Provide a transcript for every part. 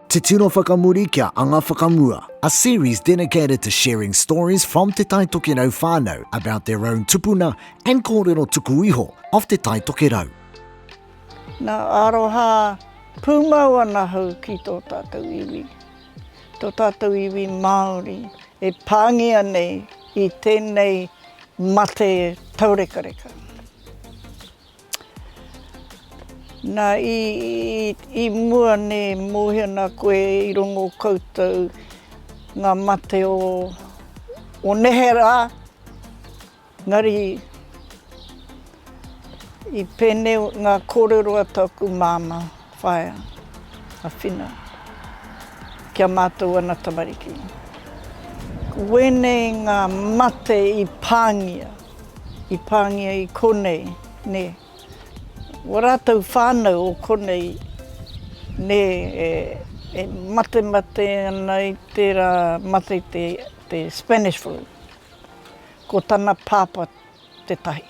Te Tino Whakamuri kia Anga Whakamua A series dedicated to sharing stories from Te Tai Tokerau whānau about their own tupuna and kōrero tuku iho of Te Tai Tokerau. Na aroha pumau ana hau ki to tatou iwi, to tatou iwi Maori e pangia nei i tenei mate taurekareka. Na, i mua nei mohi ana koe i rongo koutou nga mate o nehe ra, engari i penei nga korero a taku mama. Whaea, a Whina, ki a mātou ana tamariki. Ko wēnei ngā mate i pāngia, i pāngia i konei, nē. Wā rātou whānau o konei, nē, e matemate ana i tērā mate te Spanish Flu. Ko tana pāpā. tetahi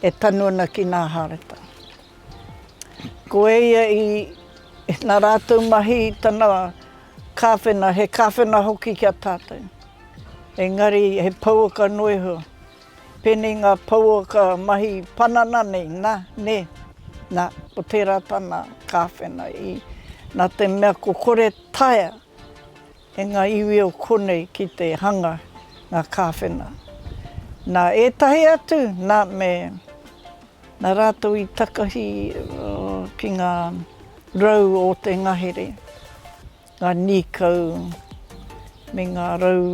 e tanu ana ki nga harata. Ko eia i na ratou mahi i tana kawhena, he kawhena hoki ki a tatou. Engari he pouaka no iho. Penei nga pouaka mahi panana nei, na, ne, na, ko tera tana kawhena i na te mea ko kore taea E ngā iwi o konei ki te hanga ngā kāwhena. Nā ētahi atu, nā me, nā rātou i takahi ki ngā rau o te ngahere, ngā nīkau me ngā rau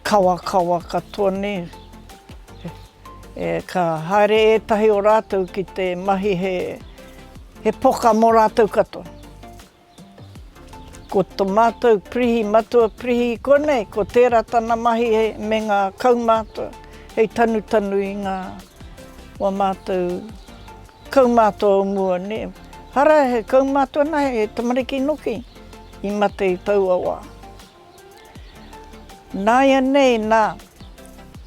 kawakawa katoa nei. Ka haere ētahi o rātou ki te mahi he pokah mō rātou katoa. Ko to matou prihi matua prihi konei ko tera tana mahi me nga kaumatua hei tanutanu i nga wa matou kaumatua o mua ne hara he kaumatua na he tamariki noki i mate i taua wa. Naianei na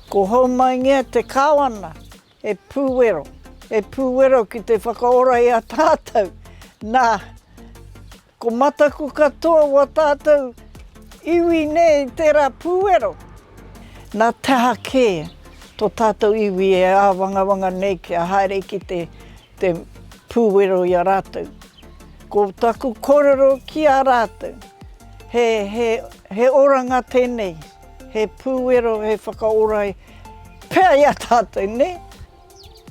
ko Houmaingea te kawana E Pūwero, e Pūwero ki te whakaora i a tātou, nā, ko mataku katoa o a tātou iwi nei tērā Pūwero. Nā te aha kē tō tātou iwi e āwangawanga nei kia haere ki te te pūwero i a rātou. Ko taku kōrero ki a rātou, he, he, he oranga tēnei, he pūwero, he whakaora pea i a tātou, nē?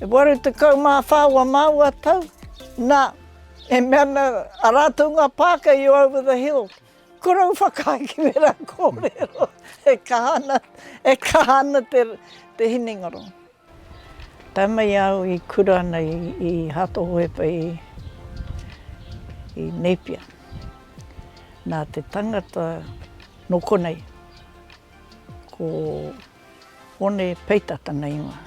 E waru tekau mā whā ua māua tau, nā, e mea ana a rātou ngā pāka i Over the Hill, korou whakahikimera kōrero, e kaha ana, e kaha ana te, te hinengaro. Tae mai au i kura ana i Hatohoepa i Nēpia, nā te tangata nō konei, ko Hone Peita tana ingoa.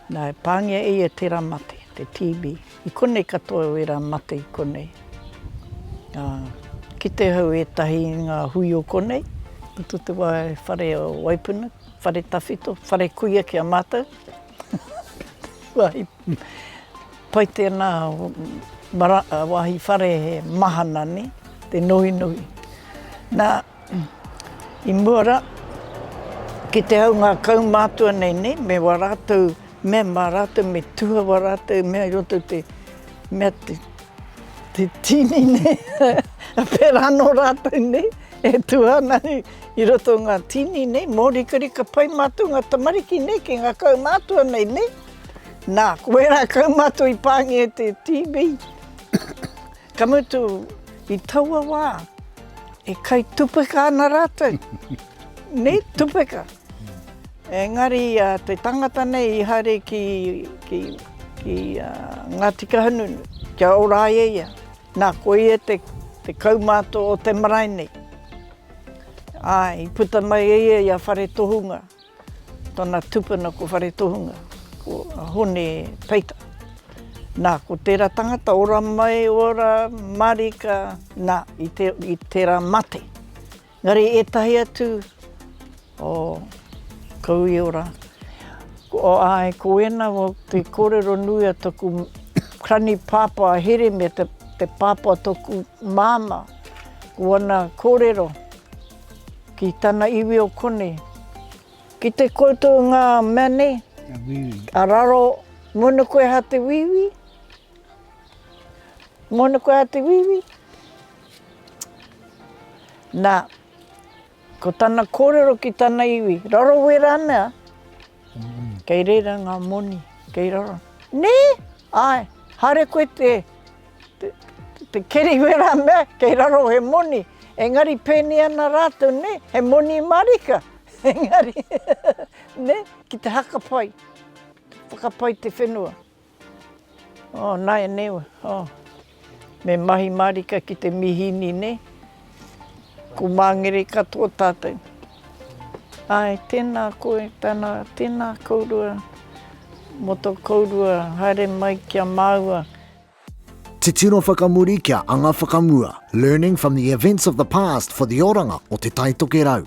Nā, e pāngia e ia tērā mate, te TB. I konei katoa wērā mate i konei. Nā, kite au ētahi i ngā hui o konei, i te whare o Waipuna, Whare tawhito, whare kuia ki a mātou. Pai tēnā wāhi whare he mahana ne, te nohinohi. Nā, i mua rā, ki te hau ngā kaumātua nei ne, me wā rātou mea mā rātou, me tuha wā rātou mea i roto te mea te, te tīni nei, pērā anō rātou nei e tuha ana. I roto ngā tīni nei, mōrikarika pai mātou ngā tamariki nei ki ngā kaumātua nei, nē? Nā, ko ērā kaumātua i pāngia e te TV, ka mutu i taua wā e kai tupeka ana rātou, nē, tupeka. Engari te tangata nei i haere ki, ki, ki Ngāti Kahungunu, kia ora ai e ia. Nā, ko ia te, te kaumātua o te marae nei. Ā, i puta mai e ia i a Whare Tohunga, tōna tupuna ko Whare Tohunga, ko Hone Peita. Nā, ko tērā tangata ora mai, ora marika, nā, i tērā mate. Engari ētahi atu O Kauiora, ko ae ko ena o te korero nui a toku krani papa a Here me te papa o toku mama, ko ana korero ki tana iwi o konei. Ki te koutou nga mea nei, a raro, mona koe ha te wiwi, mona koe ha te wiwi, na. Ko tana kōrero ki tana iwi, rarawe rānea? Kei reira ngā moni, kei raro. Nē? Āe, haere koe te, te, te keri koe rā mea, kei raro he moni. Engari pēnei ana rātou, nē, he moni mārika. Engari, nē, ki te haka pai, whakapai te whenua. Oh nāianei wā, oh. Me mahi mārika ki te mīhini nei. Ko māngere katoa tātou. Āe, tēnā koe, tēnā, tēnā kōrua, mō tō kōrua, haere mai ki a māua. Titiro whakamuri kia anga whakamua, learning from the events of the past for the oranga o Te Taitokerau.